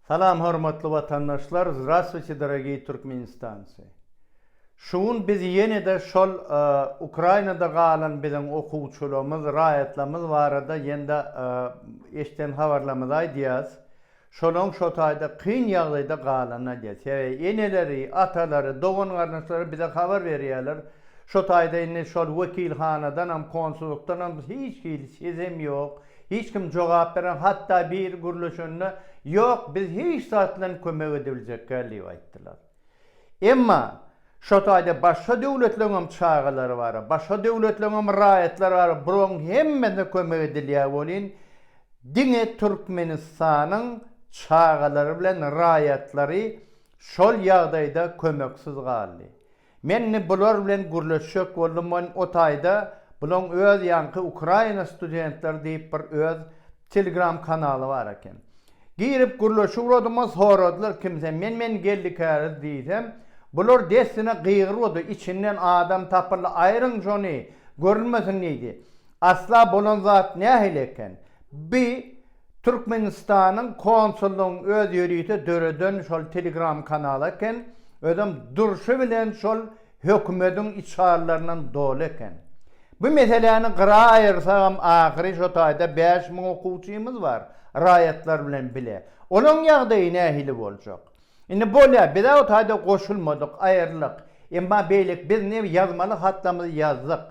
Salam hormatly watandaşlar Zdravstvuyte dorogiý Türkmenistancy Şu gün biz ýenede şol Ukrainada galan biziň okuwçylamyz raýatlamyz barada ýenede eşden habarlamyzy aýdýas şolaň şotaýda kyn ýagdaýda galany aýdýas sebäbi eneleri atalary dogan garyndaşlary bize habar berýäler şotaýda indi şol wekilhanadanam konsullykdanam hiç hili sesem ýok Hiç kim jogap bereň, hatda biri gürleşende, Ýok, biz hiç zat bilen kömek edebiljekgäl diýip aýtdylar. Emma şo taýda başga döwletleriň hem çagalary bar, başga döwletleriň hem raýatlary bar, bularyň hemmesine kömek edilýär welin, diňe Türkmenistanyň çagalary bilen raýatlary şol ýagdaýda kömeksiz galdy. Men indi bular bilen gürleşjek boldum men o taýda bulaň öz ýaňky Ukraina studentleri diýip bir öz Telegram kanaly bar eken. Girip gürleşi uradymys soradylar kim sen men men Gellikäriz diýsem bular dessine gygyrwady içinden adam tapyldy aýryň şony görülmesin diýdi. Asla bolan zat nähili eken? Bi Türkmenistanyň konsullygyň öz ýörite döreden şol telegram kanaly eken, özem durşy bilen şol hökümediň içalylaryndan doly eken. Bu meseläni gyra aýyrsagam ahyry şo taýda bäş müň okuwçymyz bar, raýatlar bilen bile. Olaň ýagdaýy nähili boljak? Indi bolýa bizä o taýda goşulmadyk, aýrylyk. Emma beýleki biz ne ýazmaly hatlamyzy ýazdyk.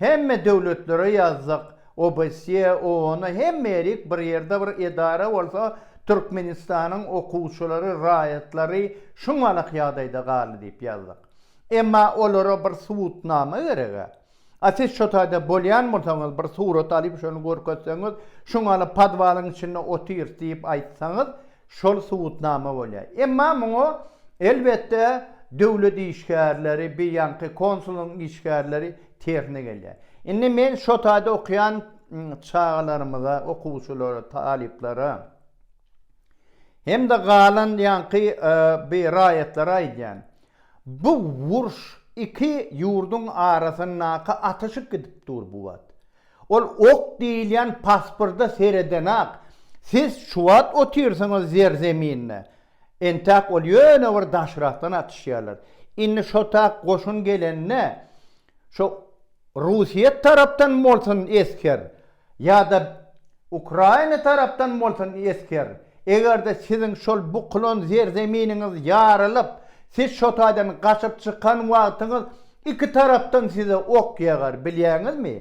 Hemme döwletlere ýazdyk, OBSE, OONA hemme ýerik bir ýerde bir edara bolsa Türkmenistanyň okuwçylary, raýatlary şuňalak ýagdaýda galdy diýip ýazdyk. Emma olara bir subutnama gerek-ä. A siz şo taýda bolýan bolsaňyz, bir surat alyp şony görkezseňiz, şu maly podwalyň içinde otyr diýip aýtsaňyz, şol subutnama bolýar. Emma muňa, elbetde, döwlet işgärleri, beýanky konsullygyň işgärleri tersine gelýär. Indi men şo taýda okaýan çagalarymyza, okuwçylara, talyplara hem-de galan ýaňky raýatlara aýdýan. Bu urş iki ýurduň arasyndaky atyşyk gidip dur bu wagt. Ol ok diýilýän pasporda seredenak siz şu wagt otyrsyňyz zer zeminde. Entäk ol ýöne bir daşrakdan atyşýarlar. Indi şo tak goşun gelende Şo Russiýa tarapdan bolsun esger ýa-da Ukraina tarapdan bolsun esger, eger-de siziň şol bukulan zerzeminiňiz ýarylyp, siz şo taýdan gaçyp çykan wagtyňyz iki tarapdan size ok ýagar, bilýäňizmi?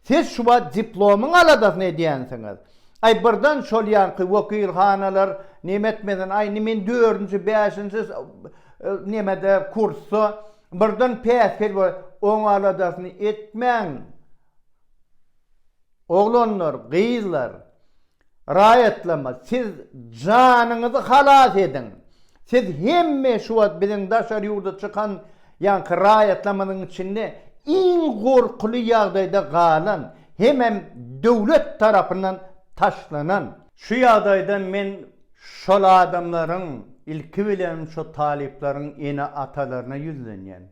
Siz şu wagt diplomyň aladasyny edýänsiňiz. Aý, birden şol ýanky wekilhanalar näme etmesin, aý, indi men dördünji, bäşinji, nämede, kursda, Birden päsgel we oň aladasyny etmäň, oglanlar, gyzlar, raýatlama, siz janyňyzy halas ediň, siz hemme şu wagt biziň daşary ýurda çykan ýaňky raýatlamyzyň içinde iň gorkuly ýagdaýda galan hemem döwlet tarapyndan taşlanan, Şu ýagdaýda men şol adamlaryň, ilki bilen şo talyplaryň ene-atalaryna ýüzlenýän.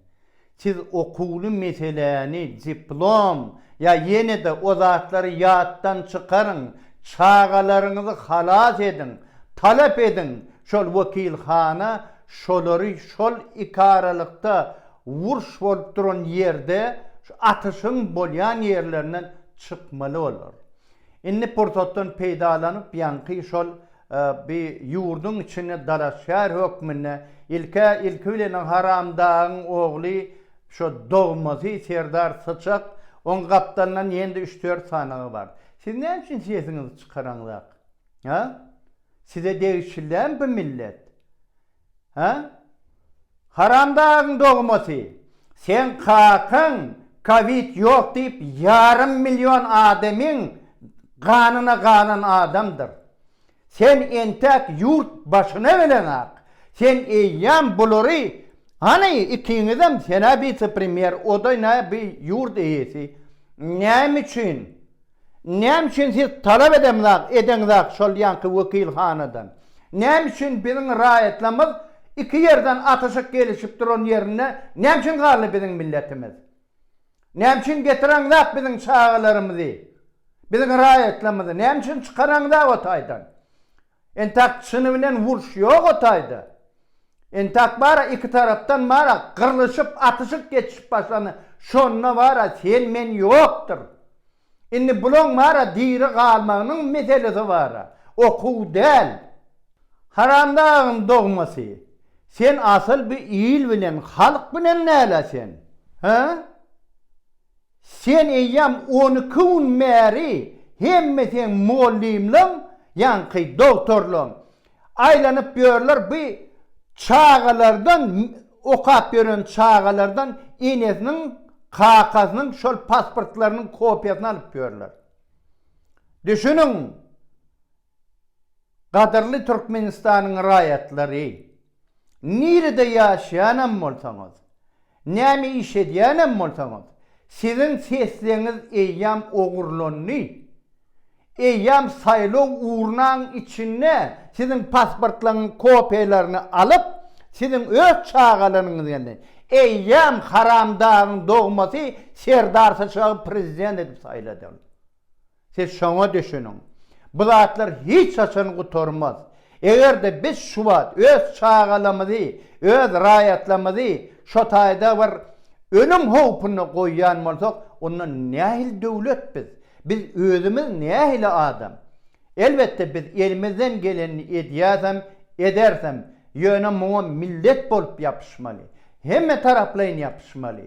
Siz okuwly meseläni, diplom ýa ýene-de o zatlary ýatdan çykaryň, çagalaryňyzy halas ediň, talap ediň, şol wekilhana şolary şol ikaralykda wurş bolup duran ýerde, şu atyşyň bolýan ýerlerinden çykmaly bolar. Indi pursatdan peýdalanyp ýaňky şol bi ýurduň içinde dalaşgär hökmünde ilk-ä ilki bilen haramdagyň ogly şo dogmasy Serdar Syçak oň gapdalyndan ýende üç-dört sanaga bar. Siz näme üçin sesiňizi çykaraňzak? Hä? Size degişilem bi millet? Hä? Haramdagyň dogmasy, seň kakaň kowid ýok diýip ýarym million adamyň ganyna galan adamdyr. Sen entäk ýurt başyna geleňak, sen eýýäm bulary, hany ikiňizem senä wise-premýer, oda nä bi ýurt eýesi, näme üçin? Näme üçin siz talap edemzak, edeňzak şol ýanky wekilhanadan? Näme üçin biziň raýatlarymyz iki ýerden atyşyk gelişip duran ýerinde näme üçin galdy biziň milletimiz? Näme üçin getireňzak biziň çagalarymyzy, biziň raýatlarymyzy näme üçin çykareňzak o taýdan? Entak çyny bilen wurş ýok o taýda. Entak bara iki tarapdan bara gyrlyşyp atyşyk geçişip başlany şonda bara sen men ýokdyr. Indi bulaň bara diri galmagynyň meselesi bara. Okuw däl. Haramdagyň dogmasy. Sen asyl bu il bilen halk bilen näle sen? Hä? Sen eýýäm on iki gün bäri hemme seň mugallymlaň ýaňky dogtorlaň aýlanyp ýörler bu çagalardan okap ýören çagalardan enesiniň kakasynyň şol pasportlarynyň kopiýasyny alyp ýörler. Düşüniň! Gadyrly Türkmenistanyň raýatlary! Nirede ýaşaýanam bolsaňyz, näme iş edýänem bolsaňyz, siziň sesleňiz eýýäm ogurlandy. Eýýäm saýlaw urnaň içinde siziň pasportlaryňyň kopiýalaryny alyp, siziň öz çagalaryňyz geldi. Eýýäm haramdagyň dogmasy Serdar Syçagy prezident edip saýladylar. Siz şoňa düşüniň. Bu zatlar hiç haçan gutarmaz. Eger-de biz şu wagt öz çagalamyzy, öz raýatlamyzy şo taýda bir ölüm howpuna goýýan bolsak, onda nähili döwlet biz? Biz özümiz nähili adam? Elbetde biz elimizden gelenini edýäsem, edersem, ýöne muňa millet bolup ýapyşmaly. Hemmetaraplaýyn ýapyşmaly.